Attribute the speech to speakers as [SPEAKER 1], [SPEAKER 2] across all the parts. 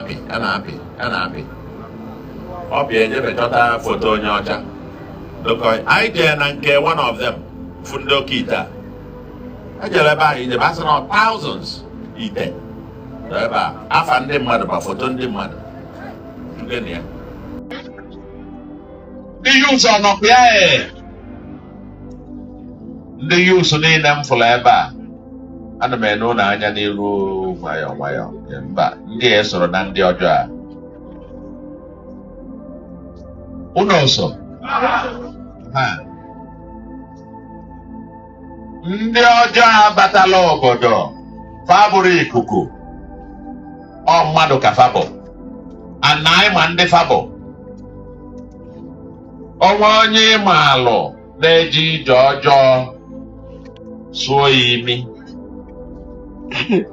[SPEAKER 1] na-apị a na-apị a na-apị ọ bịa jebe chọta foto onye ọcha dokọị anyị jee na nke one of them fụ ndị oke ite a ejere ebe ahụ ijebe asị na thousands ite nọ ebe a afa ndị mmadụ ma foto ndị mmadụ ndị na ya Iyuza no pia eh. ndị youths niile m fụrụ ebe a ana m ene ụnụ anya n'iru nwayọọ nwayọọ mba ndị a esorọ na ndị ọjọọ a ụlọ ọsọ ha ndị ọjọọ abatala obodo fa abụrọ ikuku ọ mmadụ ka fa bụ na anyị ma ndị fa bụ ọ nwee onye ị maalụ na-eje ije ọjọọ sụọ ya imi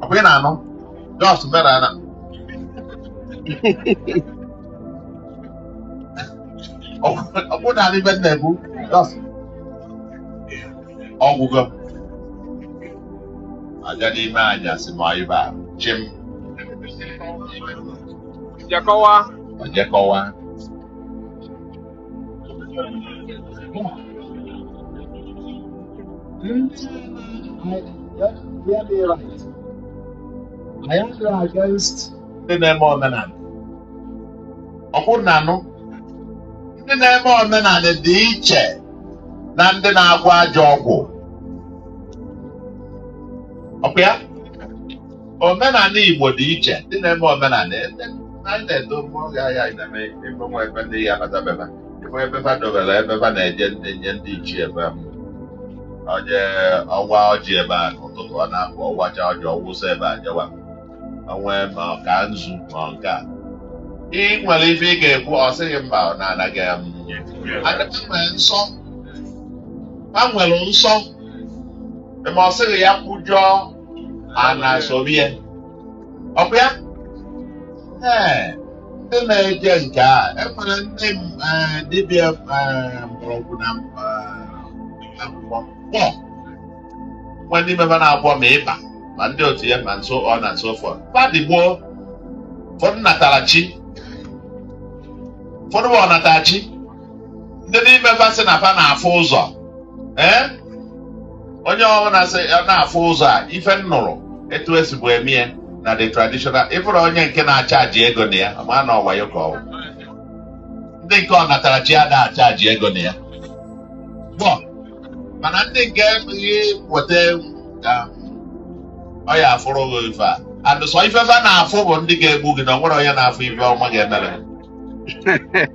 [SPEAKER 1] ọkwa ị na-anụ just mara na ọ bụrụ na ibe nna ebu just ọ gwụgo aja n'ime anyasị ma ibe a chim jekọwa. o jekọwa ndị na-eme omenala ọkwa ụnụ na-anụ ndị na-eme omenala dị iche na ndị na-agwọ ajọ ọgwụ ọkwa ya omenala Igbo dị iche ndị na-eme omenala ndị anyị na-eto mgbe oge ahịa anyị na-eme ebe nwa ebe ndị ya batabeba ebe ebe fa dobere ebe fa na-eje ndị nye ndị ichie ebe m onye ọ waa ọjị ebe a n'ụtụtụ ọ na-apụ ọ wachaa ọjị ọ wụsa ebe a jewa onwe ma ọ kaa nzu ma ọ nke a ị nwere ife ị ga-ekwu ọ sị gị mba ọ na-anaghị m adịghị nwere nsọ ha nwere nsọ ma ọ sịghị ya kwujọọ a na-asọbi ya ọkwa ya ee ndị na-eje nke a e nwere ndị m- eh, dibịa eh, mkpọrọgwụ na m- eh, akwụkwọ mkpọ nwa ndị mebe na-agwọ ma ịba ma ndị otu ya ma so on and so forth fa dị ịbụọ ụfọdụ natara chi ụfọdụ bụ ọnatarachi ndị n'ime fa sị na fa na-afụ ụzọ ee onye ọbụla sị ya na-afụ ụzọ a ife m nụrụ etu esibu emie na the traditional ị bụrụ onye nke na-achaji ego na ya ma na ọ wayo ka ọ wụ ndị nke ọnatarachi ada achaji ego na ya gboo mana ndị nke ihe weta um, ọya afụrụ gị ife a and sọ ife fa na-afụ bụ ndị ga-egbu gị na o nwerọ onye na-afụ ife ọma ga-emere gị.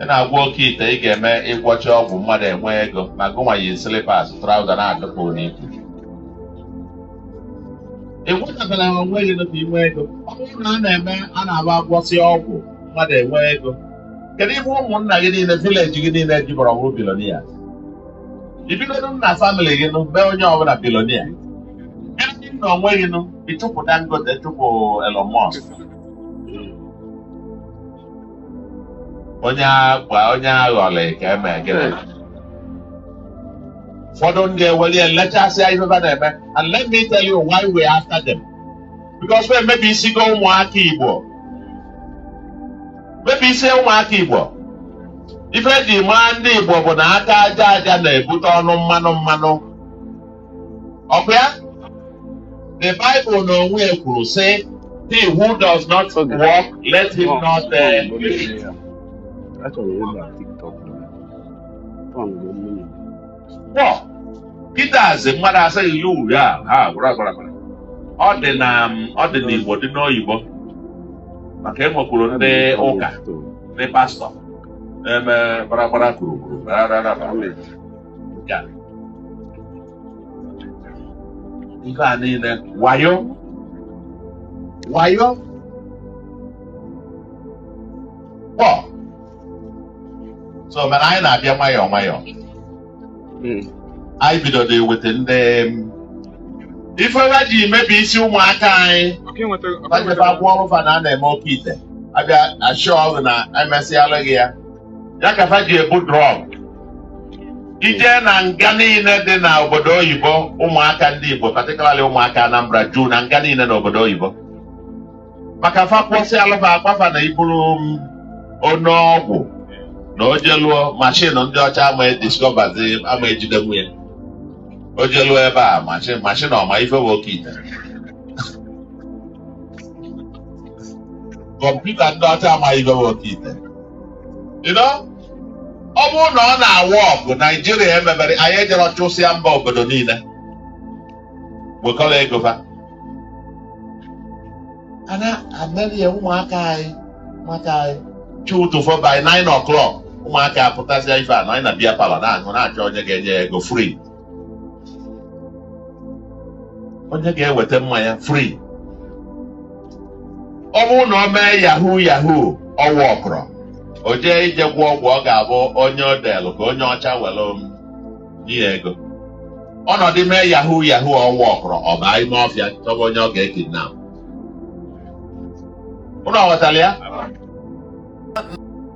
[SPEAKER 1] ị na-agwọ oke ite ị ga-eme ị gwọcha ọgwụ mmadụ enwe ego ma gụnwa yi slipas traụza na-adọpu n'ike ịgwọtabela ha onwe gị nụpụ inwe ego ọ bụrụ na a na-eme a na-agba agwọsị ọgwụ mmadụ enwe ego kedu ife ụmụnna gị niile vileji gị niile jiberọ wụrụ bilonia i bidogodo na famịlị gị nụ mee onye ọbụla bilonia ebe ị nọ onwe gị nụ ị chụpụ dangote chụpụ elon musk onye agba onye aghọlị ka eme gịnị ụfọdụ ndị eweli elechasịa ife fa na-eme and let me tell you why we are after them because wa emebisigo ụmụaka igbo mebi isi ụmụaka igbo ife eji maa ndị igbo bụ na aka aja aja na-ebute ọnụ mmanụ mmanụ ọkwa ya the Bible n'onwe ya kwuru sị he who does not work let him not uh, live. But kịtazị mmadụ asị gị ya uri a ha gwara gwara gwara ọ dị na um, ọ dị n'Igbo dị n'oyibo maka enwekwuru ndị ụka ndị pastọ eme gbaragbara gburugburu nke a ife a niile wayo wayo kpọ so mana anyị na-abịa nwayọọ nwayọọ Mm. anyị bidodo eweta ndị um, ife ha ji mebi isi ụmụaka anyị Ọka enweta ọka bajebe enweta akwụkwọ ọrụ fa na a na-eme oke ite abịa achọ ọrụ na emesịalụ gị ya ya ka fa ji ebu drọg eje na nga niile dị na obodo oyibo ụmụaka ndị igbo patikalali ụmụaka anambra juu na nga niile na obodo oyibo maka fa gwọsịalụ fa agwa fa na i buru m onye ọgwụ na o jeluo mashin ndị ọcha ama ediskọbazi ama ejidenwu ya o jeluo ebe a mashin mashin ọ ma ife bụ oke ite kọmputa ndị ọcha amaghị ife bụ oke ite You know? ọ bụrụ na ọ na-awork naijiria emebere anyị ejere chụsịa mba obodo niile wekọrọ ego fa a na-emeria ụmụaka anyị maka anyị chi ụtụtụ fo by 9 o'clock ụmụaka apụtasịa ife a na anyị na beer parlour na-aṅụ na-achọ onye ga-enye ya ego free onye ga-eweta mmanya free ọ bụrụ na ọ mee yahoo yahoo ọ workụrọ o jee ije gwọọ ọgwụ ọ ga-abụ onye o delụ ka onye ọcha were m nye ya ego ọ nọdụ mee yahoo yahoo ọ workụrọ ọ baa ime ọfịa chọba onye ọ ga-ekidnap ụnụ aghọtara ya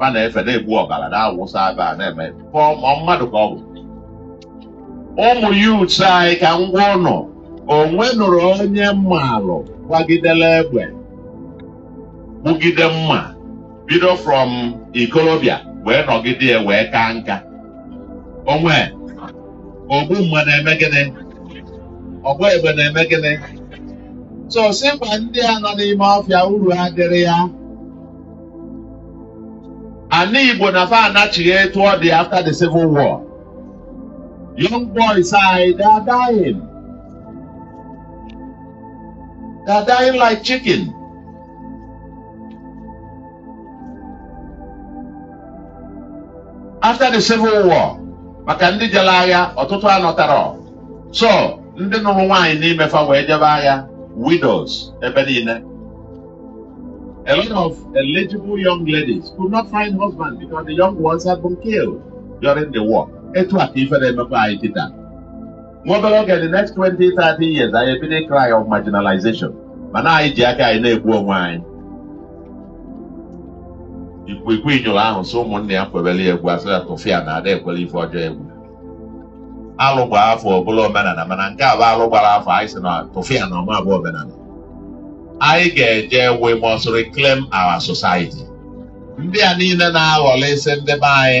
[SPEAKER 1] a na-efe na-egbu ọbara na-awụsa ebe a na-eme ka ọ- ọ mmadụ ka ọ bụ ụmụ youths anyị ka ngwa ụnụ o nwenụrụ onye malụ gbagidere egbe gbugide mma bido from ikolobịa wee nọgide ya wee kaa nka o nwe ogbu mma na-eme gịnị ọgba egbe na-eme gịnị so sị ma ndị a nọ n'ime ọfịa uru adịrọ ya ana igbo na fa anachigha etu ọ dị after the civil war young boys anyị they are dying they are dying like chicken after the civil war maka ndị jere agha ọtụtụ anọtarọ so ndị nụrụ nwaanyị n'ime fa wee jebe agha widows ebe niile a lot of eligible young ladies could not find husband because the young ones had been killed during the war etu a ka ife na-emekwa anyị kịta nwa obere oge the next 20 30 years anyị ebido cry of marginalization mana anyị ji aka anyị na-egbu onwe anyị ikwikwi nyụrụ ahụ sị ụmụnne ya kwebere ya egwu a sị ya tụfịa na ada ekwere ife ọjọọ egwu alụ gbaa afọ ọ bụlụ omenala mana nke a bụ alụ gbara afọ anyị sị na tụfịa na ọ ma-abụ omenala anyị ga-eje we must reclaim our society ndị a niile na-aghọlịsị ndị be anyị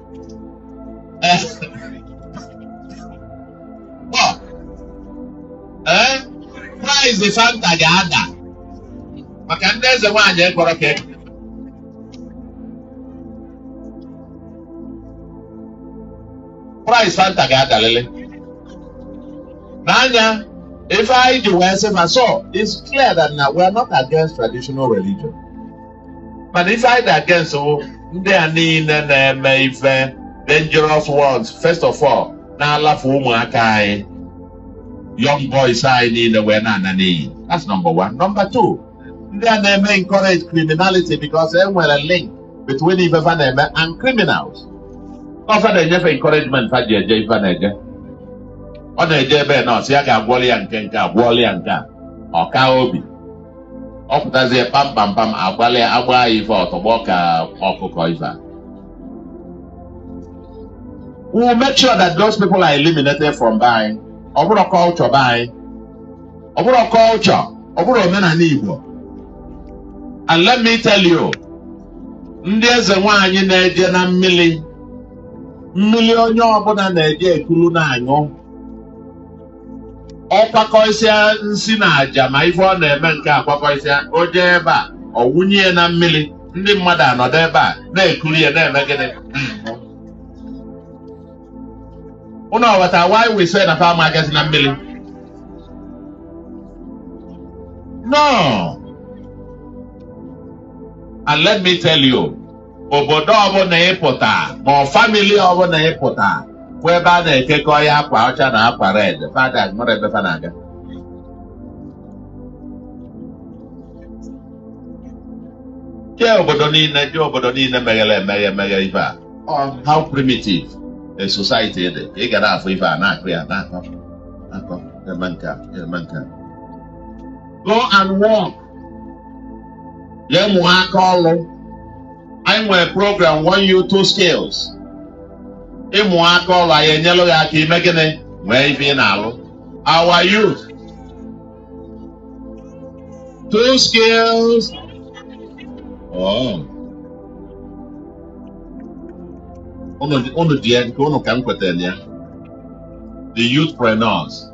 [SPEAKER 1] ee price fanta ga-ada maka ndị eze nwaanyị ekpọrọ ka ekpọ price fanta ga-adalele n'anya ife anyị ji wee sị ma so it's clear that na we are not against traditional religion mana ife anyị dị against wụ ndị a niile na-eme ife dangerous ones first of all na-alafu ụmụaka anyị young boys anyị niile wee na-ana n'iyi that's number one number two ndị a na-eme encourage criminality because e nwere link between ife fa na-eme and criminals ọ fa na-enye fa encouragement fa ji eje ife na-eje ọ na-eje ebe na-asị a ga-agwọli ya nke nke a gwọọli ya nke a ọ kaa obi ọ pụtazie kpamkpamkpam agwala ya a gbaa ya ife ọ tọgbọ ka ọkụkọ ife a. we will make sure that those people are eliminated from be anyị ọ bụrọ culture be anyị ọ bụrọ culture ọ bụrọ omenala Igbo and let me tell you ndị eze nwaanyị na-eje na mmiri mmiri onye ọbụla na-eje ekulu na-aṅụ ọ kwakọsịa nsi na aja ma ife ọ na-eme nke a kwakọsịa o jee ebe a ọ wụnye ya na mmiri ndị mmadụ anọdụ ebe a na-ekuri ya na-eme gịnị ụnụ aghọta why we say na fa ama agazi na mmiri no and let me tell you obodo ọbụla ị pụta ma ọ family ọbụla ị pụta bụ ebe a na-ekekọ ya akwa ọcha na akwa red fada nwere ebe fa na-aga jee obodo niile jee obodo niile meghere emeghe emeghe ife a ọ how primitive a society dị ka ị ga na-afụ ife a na-akụ ya na-akọ akọ eme nke a eme nke a go and work jee mụa aka ọlụ anyị nwere program one youth two skills ịmụ aka ọlụ anyị enyelụ gị aka ime gịnị nwee ife ị na-alụ one youth two skills oh. unu dị- unu dị ya nke unu ka m kwetara ya the youthpreneurs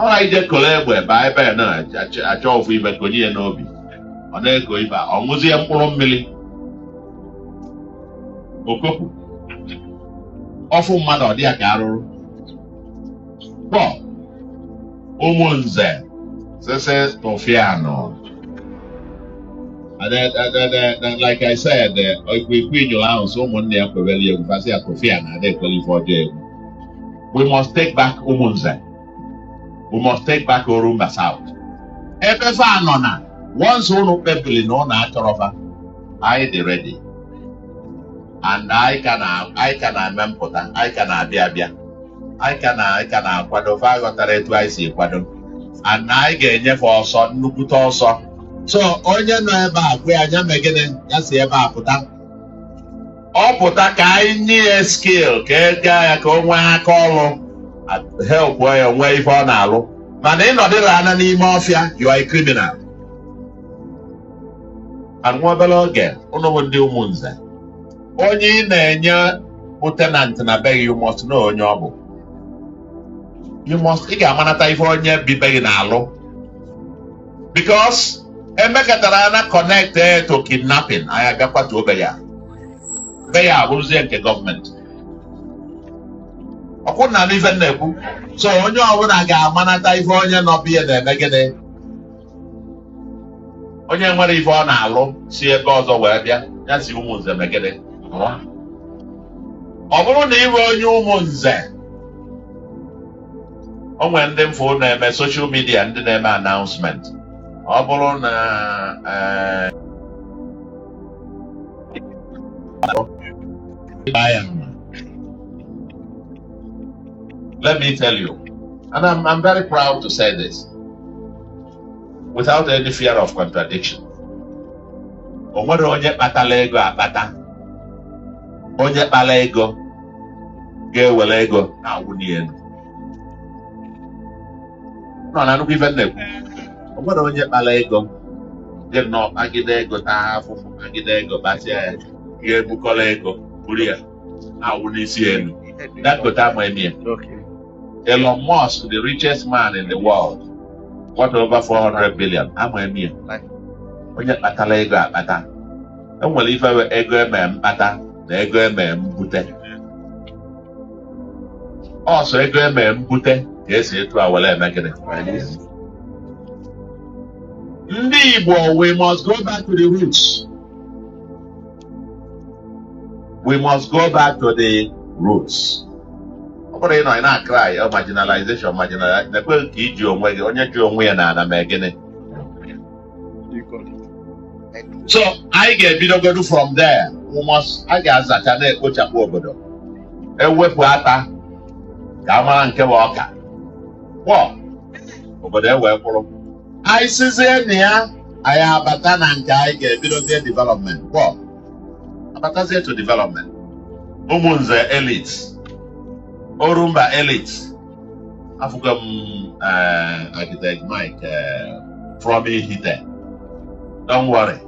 [SPEAKER 1] ọrọ ije koro egbe baa ebe a na-achọ ofu ibe konye ya n'obi ọ na-eko ibe a, ọ ṅụzie mkpụrụ mmiri o kopụ ọ fụ mmadụ ọ dị ya ka arụrụ kpọ ụmụnze sese tụfịanụ And then, and then, and then, like I said, uh, if we queen your house, someone there for very young, but they are coffee and they qualify for jail. we must take back Umunze. We must take back Orumba South. Ebe fa anọ na once unu kpebili na unu achọrọ fa, anyị dị ready. And anyị ka na anyị ka na-eme mpụta, anyị ka na-abịa abịa. Anyị ka na anyị ka na-akwado fa aghọtarọ etu anyị si kwado. And anyị ga-enye fa ọsọ nnukwute ọsọ. So onye nọ ebe a gwa ya nya mee gịnị ya si ebe a pụta. ọ pụta ka anyị nye ya skill ka e gaa ya ka o nwee aka ọrụ help ya nwee ife ọ na-alụ mana ị nọdịla anya n'ime ọfịa you are a criminal and nwa obere oge unu bụ ndị Umunze onye ị na-enye bụ tenant na be gị you must know onye ọ bụ you must ị ga-amanata ife onye bi be gị na-alụ because emekatara ya na connect eh, to kidnapping anyị abịa kwatuo be ya be ya abụrụzie nke gọọmenti ọ kwa unu na-anụ ife m na-ekwu so onye ọbụla ga-amanata ife onye nọ be ya na-eme gịnị onye nwerọ ife ọ na-alụ si ebe ọzọ wee bịa ya si Umunze mee gịnị Pụọ. ọ bụrụ na ị bụ onye Umunze o nwere ndị m fụ na-eme social media ndị na-eme announcement ọ bụrụ na eh, let me tell you and I'm, I'm very proud to say this without any fear of contradiction o nwerọ onye kpatara ego akpata onye kpara ego ga-ewere ego na-awụli elu unu na-anụkwa ife m na-ekwu o nwerọ onye kpara ego gị nọ kpagide ego taa afụfụ kpagide ego kpasịa ya ga-ebukọrọ ego buru ya na-awụ n'isi enu Dangote ama eme ya Elon Musk the richest man in the world worth over 400 billion ama eme ya onye kpatara ego akpata e nwere ife bụ ego eme mkpata na ego eme mbute ọ sọ ego eme mbute ka e si etu a were eme gịnị ndị Igbo we must go back to the roots we must go back to the roots ọ bụrọ ịnọ ị na-cry marginalization marginalization na-ekweghị ka i ji onwe gị onye ji onwe ya n'ana mee gịnị so anyị ga-ebidogodu from there a ga-azacha na-ekpochapụ obodo ewepụ ata ka a mara nke bụ ọka kpọ obodo ewee kwụrụ anyị sizie na ya anyị abata na nke anyị ga-ebidozie development kpọ abatazie to development ụmụnze elites orumba elites afụgo m eh, architect Mike eh, from Ihite don't worry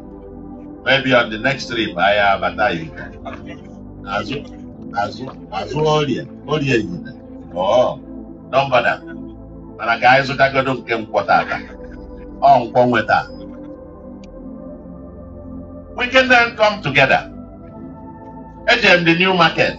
[SPEAKER 1] maybe on the next trip anyị abata Ihite azụ azụ azụ orie orie Ihite oh don't bother mana ka anyị zụtagodo nke nkwọ tata ọ nkwọ nwe taa we can then come together ejem the new market